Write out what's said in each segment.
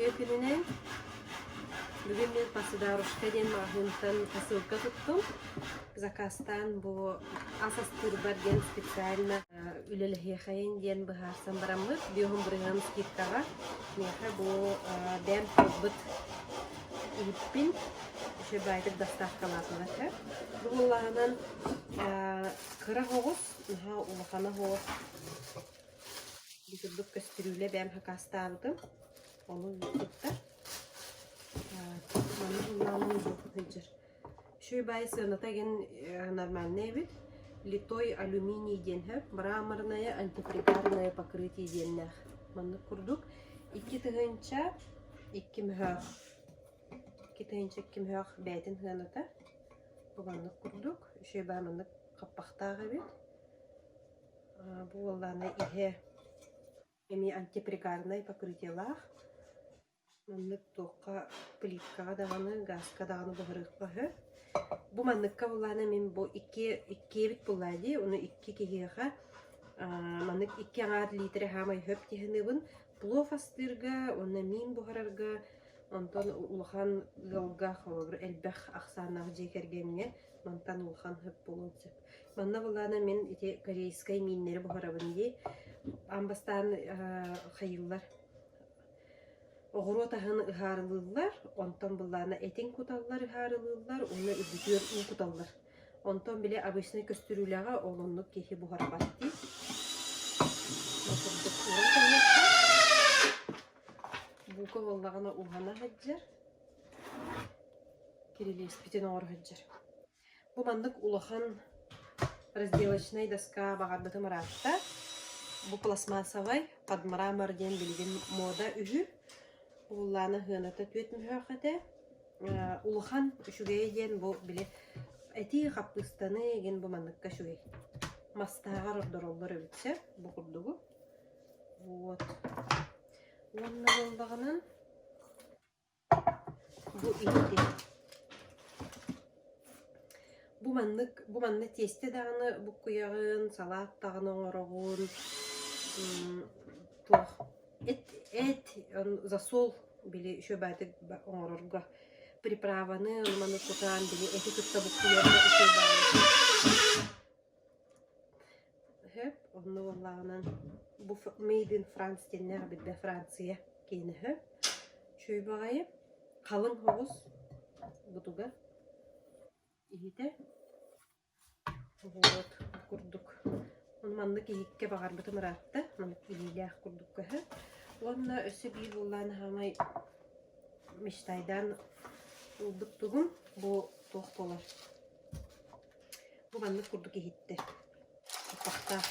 Үтүө күнүнэн бүгүн мен посодарушка диэн маҕаһыынтан посылка туттум. Закастан бу Ас астыырбар диэн специально үлэлэһиэхэйин диэн быһаарсан бараммыт. Биоһун бырыһыан скидкаҕа. Миэхэ бу бэм талбыт иһиппин еще байтик доставкалаатылар этэ. Бу буллаһынан кыра оҕус, наһаа улахан оҕус. Бу курдук көстүрүүлэ бэм хакаастаабытым. Ону тутта. Манна хуннаалын булбакка сылдьар. Үчүгэй сыаната иһин нормальнай эбит. Литой алюминий диэн сөп. Мраморное антипригарное покрытие диэннээх. Маннык курдук. Икки тыһыынча икки мөһөөх. Икки тыһыынча икки мөһөөх бээтин сыаната. Бу маннык курдук. Үчүгэй маннык хаппахтаах эбит. Бу буоллаана иһэ эмиэ антипригарнай покрытиелаах. Маннык туохха плиткаҕа даҕаны, гааска даҕаны быһарыахха үһү. Бу манныкка былаана мин бу иккиэ иккиэбит былаа дии, ону икки киһиэхэ аа маннык икки аҥаар лиитирэ саамай сөп дии саныыбын. Плов астыырга уонна миин буһарарга онтон улахан ыалга, холобур, элбэх ахсааннаах дьиэ кэргэҥҥэ мантан улахан сөп буолуон сөп. Манна былаана мин ити корейскай мииннэри буһарабын дии. Аан бастаан аа хайыыллар Оҕуруот аһын ыһаарылыыллар, онтон былаана этин куталлар, ыһаарылыыллар уонна үрдүтүгэр уу куталлар. Онтон били обычнай көстүрүүлэҕэ ол оннук киһи буһара баттыыр. курдук ууран кэлиэххэ. Буука буоллаҕына ууһана сылдьар. Кирилиэспитин оҥоро сылдьар. Бу маннык улахан разделочнай доска баҕарбытым ыраатта. Бу пластмассовай подмрамор диэн билигин муода үһү. Уһуллаана сыаната түөрт мөһөөх этэ. Э, улахан үчүгэйэ диэн бу били этии хаппыыстаны гин бу манныкка үчүгэй. Мастааҕар ордороллор эбит сэ бу курдугу. Вот. Уонна буолдаҕынан Бу икки бу маннык бу манна тиэстэ даҕаны буккуйаҕын, салаат даҕаны оҥороҕун мм туох эт эт засол били еще баатык оҥорорго приправаны аны-маны кутан били эти кытта буккуйарга Өһөөп, онно буоллаҕынан бу made in France диэннээх билбэ Франция киинэ өһөөп, чүөбэҕэйи, халыҥ соҕус бутугар иһитэ, вот курдук. Ону маннык иһиккэ баҕарбытым ыраатта, маннык илиилээх курдук көһөөт. Уонна өссө биир буоллаҕына саамай мечтайдаан ылбыт тугум бу туох буолар Бу маннык курдук иһиттэ. Хаппахтаах.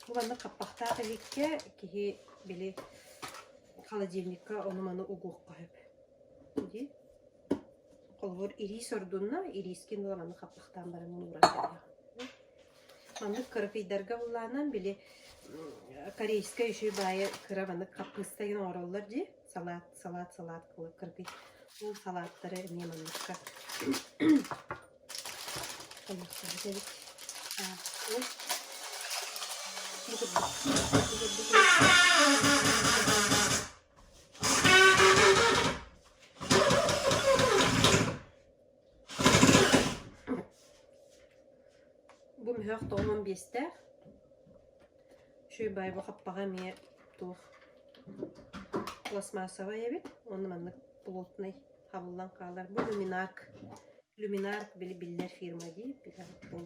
Бу маннык хаппахтаах иһиккэ киһи били холодильникка ону-маны угуохха сөп. Дии. Холобур, ириис ордунна, ириискин ыла маннык хаппахтаан баран мунууран кэлиэх. Маннык кырапыйдарга буллаанан били корейскай үчүй баайа кыра маннык хаппыыста гына оҥороллор дии. салаат, салаат, салаат кылы кыргый. Ол салааттары эмиэ манныкка хойуохсубут эбит. Аа, ол Бу мөһөх тоҕумун биэстээх. Шуйбай бу хаппаҕа эмиэ туох пластмассовай эбит. Онно маннык плотнай хабыллан хаалар. Бу люминарк. Люминарк били биллэр фирма дии.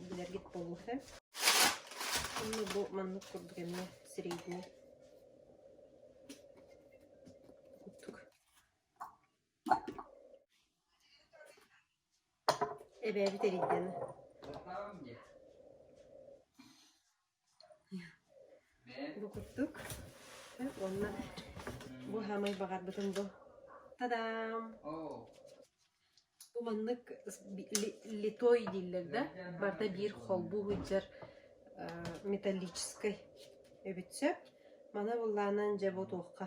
Билэргит болуһа. Онно бу маннык курдук эмиэ сирэйдиир. Курдук. Эбээбит эрийдэ да бу курдук уонна бу саамай баҕарбытым бу тадаам бу маннык литой дииллэр да барда биир холбуу сылдьар металлическай эбит сөп маны быллаанан дьэ бу туохха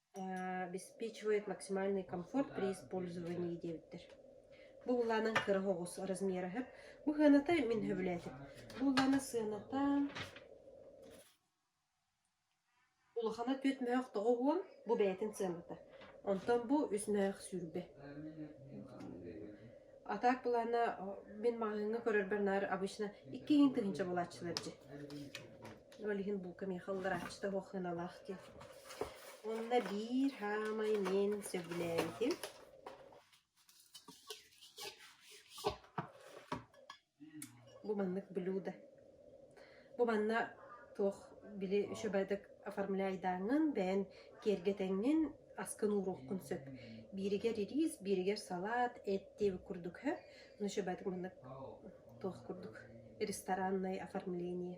обеспечивает максимальный комфорт при использовании диэбиттэр. Бу былаанан кыра оҕус размераһыт. Бу сыаната мин сөбүлээтим. Бу былаана сыаната улахана түөрт мөһөх тоҕо уон бу бэйэтин сыаната. Онтон бу үс мөһөх сүүрбэ. А так былаана мин маҕаһыыҥҥа көрөрбөр наар обычно икки иин тыһыынча булааччылар дьи. Ол иһин бука миэхэ ылларааччыта суох сыаналаах дии. Уонна биир хаамай мин сөбүлээбитим. Бу маннык блюдо. Бу манна туох били үчүгэйдик оформляйдааҥҥын, бэйэн киэргэтэҥҥин, аскын ууруоххун сөп. Бииригэр рис, бииригэр салат, эт диэбит курдук һө. Но үчүгэйдик маннык туох курдук рестораннай оформление.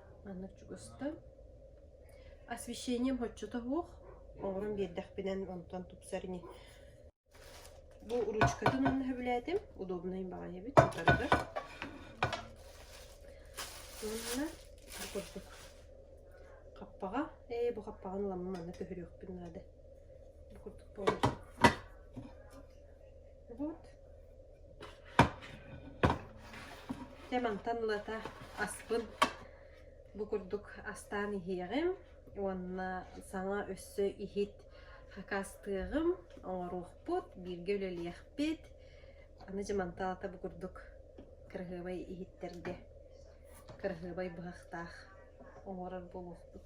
Манна чугуста. Освещением отчета суох. Оҥорон биэрдэхпинэн онтон тупсар ини. Бу ручкатын онно сөбүлээтим. Удобнай баҕайы эбит, сатарга. Уонна бу курдук хаппаҕа. Ээ, бу хаппаҕаны ламы манна көһөрүөхпүн наада. Бу курдук получится. Вот. Дьэ мантан ылата аспын бу курдук астаан иһиэҕим уонна саҥа өссө иһит хакаастыаҕым, оҥоруохпут, бииргэ үлэлиэхпит. Аны дьэ мантан ылата бу курдук кыраһыабай иһиттэргэ кыраһыабай быһахтаах оҥорор буолуохпут.